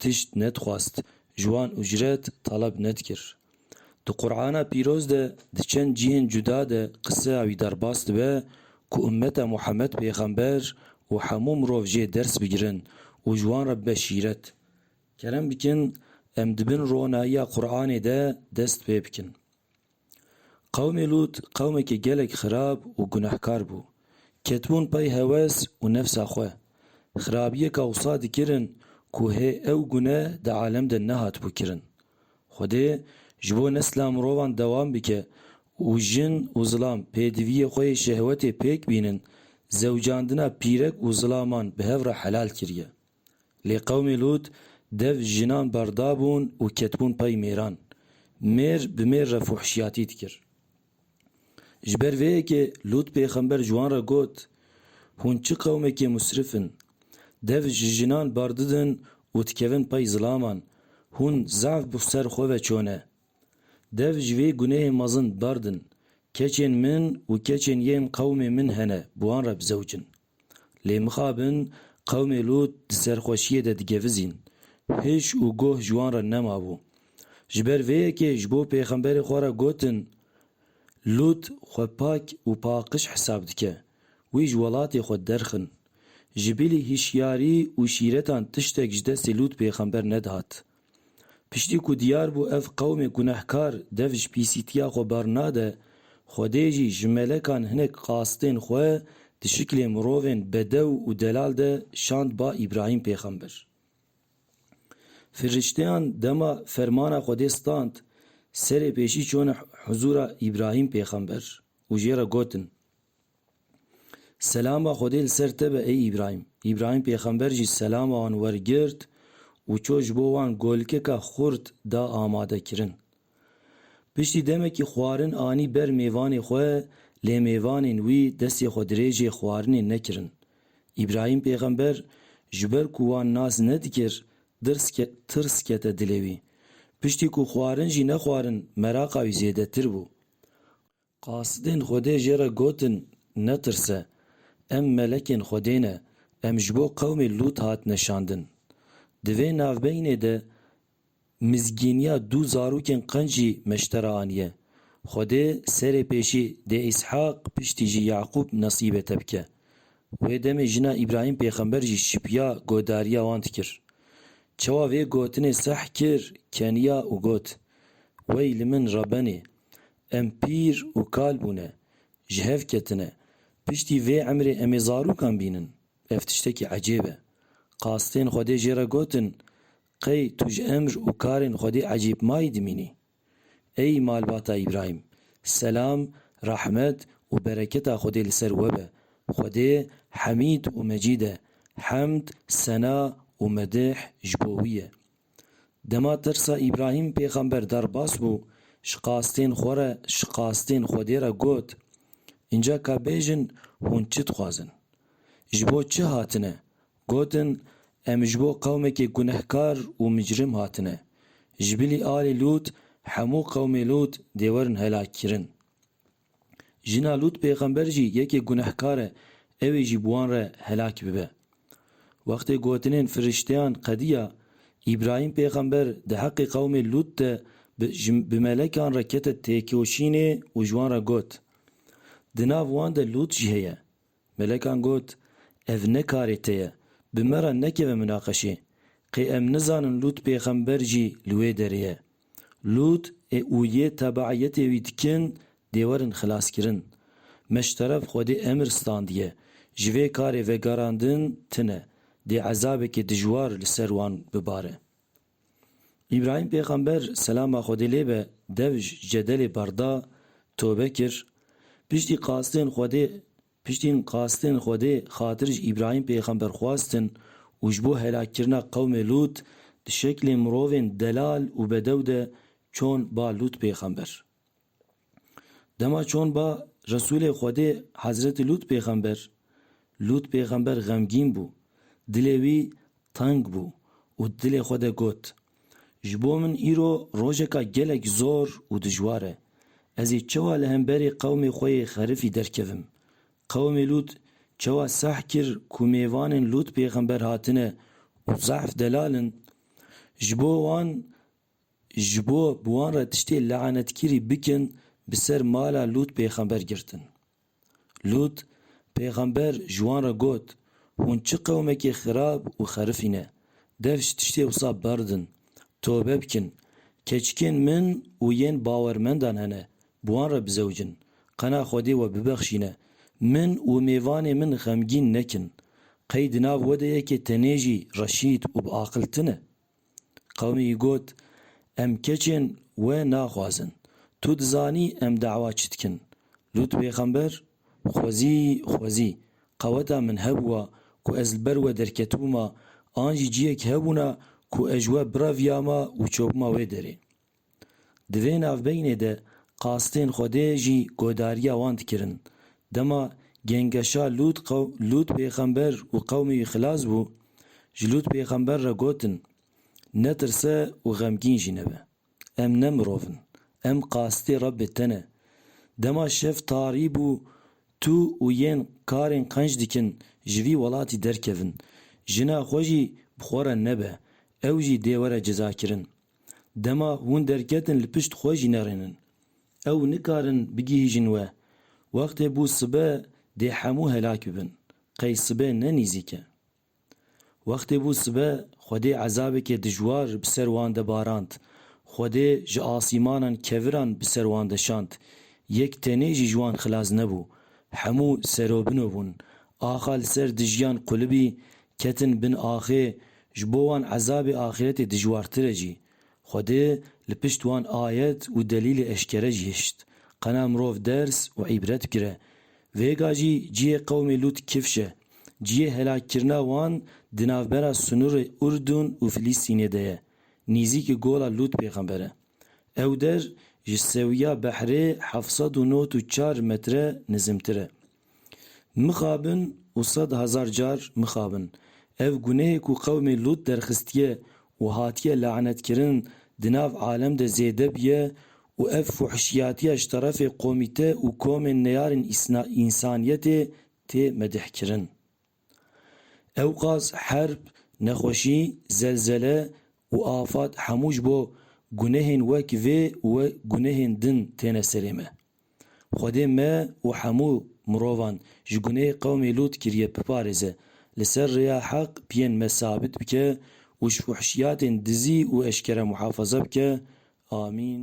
tişt nedixwast, ji wan ucret taleb nedikir. Di Qur'ana pîroz de di çend cihên cuda de qiseya wî derbas dibe ku ummeta Muhammed pêxember û hemû mirov jê ders bigirin û ji wan re bibe şîret. Kerem bikin em di bin ronayiya Qur'anê de dest pê bikin. Qewmê Lût qewmekî gelek xirab û gunehkar bû. Ketibûn pey hewes û nefsa xwe. Xirabiyeka wisa dikirin ku hê ew gune di alem de nehatibû kirin. Xwedê ji bo nesla mirovan dewam bike û jin û zilam pêdiviyê xwe yê şehwetê pêk bînin, zewcandina pîrek û zilaman bi hev re helal kiriye. Lê qewmê Lût dev jinan berdabûn û ketibûn pey mêran. Mêr bi mêr re fuhişiyatî dikir. Ji ber vê yekê Lût pêxember ji wan re got, Hûn çi qewmekê musrif in! Dev ji jinan berdidin û dikevin pey zilaman, hûn zaf bi ser xwe ve çone. Dev ji vê gunehê mezin berdin, keçên min û keçên yên qewmê min hene bi wan re bizewicin. Lê mixabin qewmê Lût di serxweşiyê de digevizîn. Hiş û goh ji wan re nemabû. Ji ber vê yekê ji bo pêxemberê xwe re gotin, Lût xwe pak û paqij hesab dike. Wî ji welatê xwe derxin. Ji bilî hişyarî û şîretan tiştek ji destê Lût pêxember nedihat. Piştî ku diyar bû ev qewmê gunehkar dev ji pîsîtiya xwe bernade, Xwedê jî ji melekan hinek qasitên xwe di şiklê mirovên bedew û delal de şand ba Îbrahîm pêxember. Firişteyan dema fermana Xwedê stand, serê pêşî çûne huzûra Îbrahîm pêxember û jê re gotin. Selama Xwedê li ser te be ey Îbrahîm. Îbrahîm pêxember jî selama wan wergirt û çû ji bo wan golkeka xurt da amadekirin. Piştî demekî xwarin anî ber mêvanê xwe lê mêvanên wî destê xwe dirêjê xwarinê nekirin. Îbrahîm pêxember ji ber ku wan nas nedikir dirs tirs kete dilê wî. Piştî ku xwarin jî nexwarin meraqa wî zêdetir bû. Qasidên Xwedê jê re gotin, Netirse! Em melekên Xwedê ne, em ji bo qewmê Lût hatine şandin. Di vê navbeynê de mizgîniya du zarokên qenc jî meştera aniye. Xwedê serê pêşî dê Îshaq piştî jî Yaqûb nesîbê te bike. Wê demê jina Îbrahîm pêxember jî şipiya godariya wan dikir. Çawa vê gotinê seh kir keniya û got, Wey li min Rebenê! Em pîr û kal bûne, ji hev ketine. Piştî vê emrê em ê zarûkan bînin. Ev tiştekî ecêb e. Qastên Xwedê jê re gotin, Qey tu ji emr û karên Xwedê ecêbmayî dimînî? Ey malbata Îbrahîm! Selam, rehmet û bereketa Xwedê li ser we be. Xwedê Hemîd û Mecîd e. Hemd, sena û medih ji bo wî ye. Dema tirsa Îbrahîm pêxember derbas bû, ji qastên xwe re ji qastên Xwedê re got, Înca ka bêjin hûn çi dixwazin? Ji bo çi hatine? Gotin, Em ji bo qewmekê gunehkar û micrim hatine. Ji bilî alê Lût hemû qewmê Lût dê werin helakkirin. Jina Lût pêxember jî yekê gunehkar e, ew ê jî bi wan re helak bibe. Wextê gotinên firişteyan qediya, Îbrahîm pêxember di heqê qewmê Lût de bi ji bi melekan re kete têkoşînê û ji wan re got, Di nav wan de Lût jî heye. Melekan got, Ev ne karê te ye. Bi me re nekeve minaqeşê. Qê em nizanin Lût pêxember jî li wê derê ye. Lût ê û yê tebeîyetê wî dikin dê werin xilaskirin. Me ji teref Xwedê emir standiye. Ji vê karê vegerandin tune, dê ezabekê dijwar li ser wan bibare. Îbrahîm pêxember selama Xwedê lê be dev ji cedelê berda, tobe kir. Piştî qastên Xwedê Piştîn qastên Xwedê xatir ji Îbrahîm pêxember xwestin û ji bo helakkirina qewmê Lût di şeklê mirovên delal û bedew de çûn ba Lût pêxember. Dema çon ba Resûlê Xwedê Hezretî Lût pêxember, Lût pêxember xemgîn bû, dilê wî teng bû û di dilê xwe de got, Ji bo min îro rojeka gelek zor û dijwar e. Ez ê çewa li hemberî qewmê xwe yê xerifî derkevim? Qewmê Lût çewa seh kir ku mêvanên Lût pêxember hatine û zehf delal in? Ji bo wan Ji bo bi wan re tiştê lanetkirî bikin bi ser mala Lût pêxember girtin. Lût pêxember ji wan re got, Hûn çi qewmekê xirab û xerifî ne. Dev ji tiştê wisa berdin, tobe bikin. Keçikên min û yên bawermendan hene, bi wan re bizewicin. Qena Xwedê we bibexşîne. Min û mêvanê min xemgîn nekin. Qey di nav we de yekê tenê jî reşîd û bi aqil tune? Qewmî got, Em keçên we naxwazin. Tu dizanî em dawa çi dikin. Lût pêxember, xwezî xwezî, qeweta min hebûa ku ez li ber we derketibûma an jî ciyek hebûna ku ez ji we bireviyama û çopima wê derê. Di vê navbeynê de qastên Xwedê jî godariya wan dikirin. Dema gengeşa Lût Lût pêxember û qewmê wî xilas bû, ji Lût pêxember re gotin, Netirse û xemgîn jî nebe. Em ne mirov in. Em qastê Rebbê te ne. Dema şev tarî bû, tu û yên karên qenc dikin ji vî welatî derkevin. Jina xwe jî bi xwe re nebe, ew jî dê were cezakirin. Dema hûn derketin li pişt xwe jî nerênin. Ew nikarin bigihîjin we. Wextê bû sibe dê hemû helak bibin. Qey sibe ne nîzîk e. Wextê bû sibe Xwedê ezabekê dijwar bi ser wan de barand. Xwedê ji asîmanan keviran bi ser wan de şand. Yek tenê jî ji wan xilas nebû. Hemû serobino bûn. Axa li ser dijîyan qulibî ketin bin axê Ji bo wan ezabê axîretê dijwartir e jî, Xwedê li pişt wan ayet û delîlê eşkere jî hişt, qena mirov ders û îbret bigire. Vêga jî cihê qewmê Lût kifş e. Cihê helakkirina wan di navbera sinûrê Urdun û Filîstînê de ye, nîzîkî gola Lût pêxember e. Ew der ji sewiya behrê heft sed û nod û çar metre nizimtir e. Mixabin û sed hezar car mixabin. Ev gunehê ku qewmê Lût derxistiye û hatiye lanetkirin di nav alem de zêde bûye û ev fuhişiyatiya ji terefê komîte û komên neyarên însaniyetê tê medihkirin. Ewqas herb, nexweşî, zelzele û afad hemû ji bo gunehên wek vê û gunehên din têne serê me. Xwedê me û hemû mirovan ji gunê qewmê Lût kiriye biparêze, li ser rêya heq piyên me sabit bike û ji fuhişiyatên dizî û eşkere muhafaza bike. Amîn.